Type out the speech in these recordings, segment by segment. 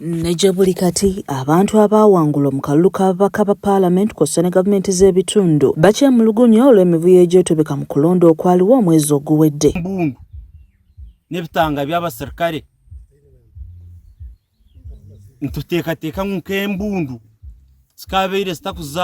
Ne gye buli kati abantu abaawangulwa mu kalulu k'ababaka ba paalamenti kw'ossa ne gavumenti z'ebitundu bakyemulugunya olw'emivuyo egyetobeka mu kulonda okwaliwo omwezi oguwedde. Mbundu n'ebitanga by'abaserikale nituteekateekamu nk'embundu zikaabeire zitakuza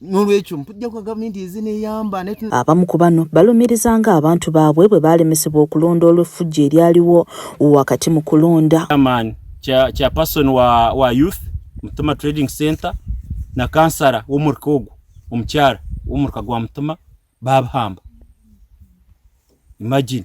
n'olwekyo mpujja kwa gavumenti ezineyamba abamu ku bano balumiriza nga abantu baabwe bwe baalemesebwa okulonda olw'effujjo eryaliwo wakati mu kulonda chairperson wa, wa youth mutuma trading center na kansara w'omurika ogwo omukyala w'omurika gwa mutuma babahamba imagine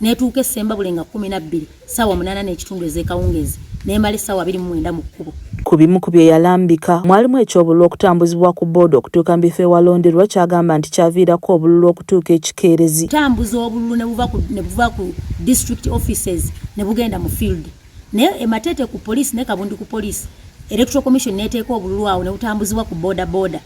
netuuka e Ssembabule nga kkumi na bbiri ssaawa munaana n'ekitundu ez'ekawungeezi n'emala essaawa abiri mu mwenda mu kkubo. Ku bimu ku bye yalambika mwalimu eky'obululu okutambuzibwa ku booda okutuuka mu bifo ewalonderwa ky'agamba nti kyaviirako obululu okutuuka ekikeerezi. Tambuza obululu ne buva ku ne buva ku district offices ne bugenda mu field naye e Mateete ku poliisi ne Kabundi ku poliisi Electoral Commission n'eteeka obululu awo ne butambuzibwa ku booda booda.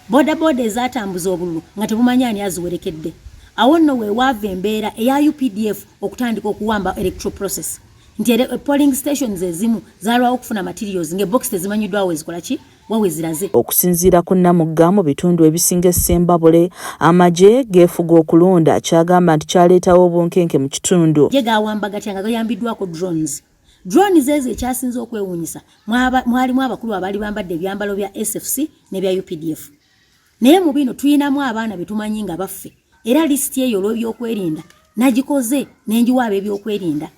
bodaboda ezatambuza obululu nga tebumanyi ani aziwerekedde awo nno wewaava embeera eya updf okutandika okuwamba electoral process nti eh, polling stations ezimu zalwawo okufuna materials ngaebox tezimanyiddwa wezikola ki waweziraze okusinziira ku namugga mu bitundu ebisinga essembabule amagye geefuga okulonda kyagamba nti kyaleetawo obunkenke mu kitundu ge gawamba gatya nga gayambiddwako drones Drone zezo ekyasinze okwewunyisa mwalimu abakulu abali bambadde ebyambalo bya SFC ne bya UPDF. Naye mu bino tuyinamu abaana betumanyi nga baffe era lisiti eyo olw'ebyokwerinda nagikoze nenjiwa ab'ebyokwerinda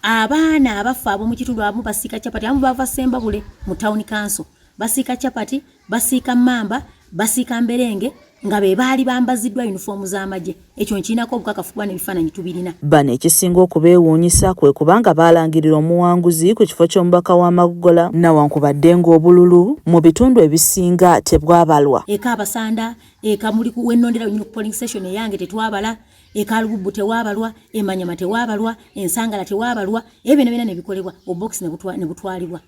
abaana abaffe ab'omu kitundu abamu basiika capati abamu bava Sembabule mu town council basiika chapati basiika mamba basiika mberenge nga be baali bambaziddwa yunifoomu z'amagye ekyo nkirinako obukakafu kuba n'ebifaananyi tubirina bano ekisinga okubeewuunyisa kwe kubanga baalangirira omuwanguzi ku kifo ky'omubaka w'amagogola nawankubadde ng'obululu mu bitundu ebisinga tebwabalwa eka abasanda eka muli wennondera wenyini ku polling station eyange tetwabala eka lububbu tewaabalwa emanyama tewaabalwa ensangala tewaabalwa ebyo byona byona ne bikolebwa obubokisi ne butwalibwa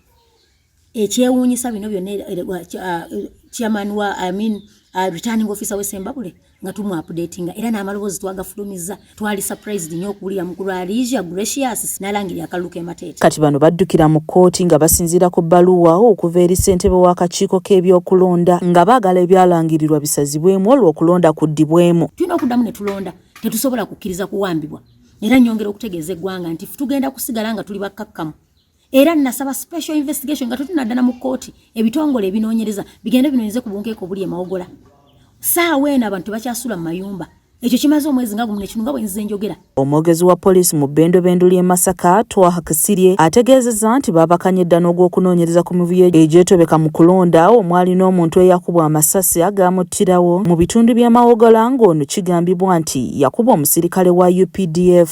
ekyewuunyisa bino byonna chairman wa I mean, uh, returning officer we Sembabule nga tumu updatinga era n'amaloboozi twagafulumizza twali surprised nnyo okuwulira mukulu Alicia Gracious n'alangirira akalulu k'emateeka. Kati bano baddukira mu kkooti nga basinziira ku bbaluwa okuva eri ssentebe w'akakiiko k'ebyokulonda nga baagala ebyalangirirwa bisazibwemu olwo okulonda kuddibwemu. Tulina okuddamu ne tulonda tetusobola kukkiriza kuwambibwa era nnyongera okutegeeza eggwanga nti tugenda kusigala nga tuli bakkakkamu. era nasaba special investigation nga tutunaddana mu kkooti ebitongole ebinoonyereza bigende binoonyeze ku bunkeeko obuli emawogola saawa eno abantu tebakyasula mu mayumba ekyo kimaze omwezi nga gumu nekino nga bwenzize enjogera omwogezi wa poliisi mu bbendobendu ly'e masaka twaha kisirye ategeezezza nti baabakanye dda n'ogw'okunoonyereza ku mivuyo egyetobeka mu kulonda omwali n'omuntu eyakubwa amasasi agaamuttirawo mu bitundu by'amawogola ng'ono kigambibwa nti yakubwa omusirikale wa updf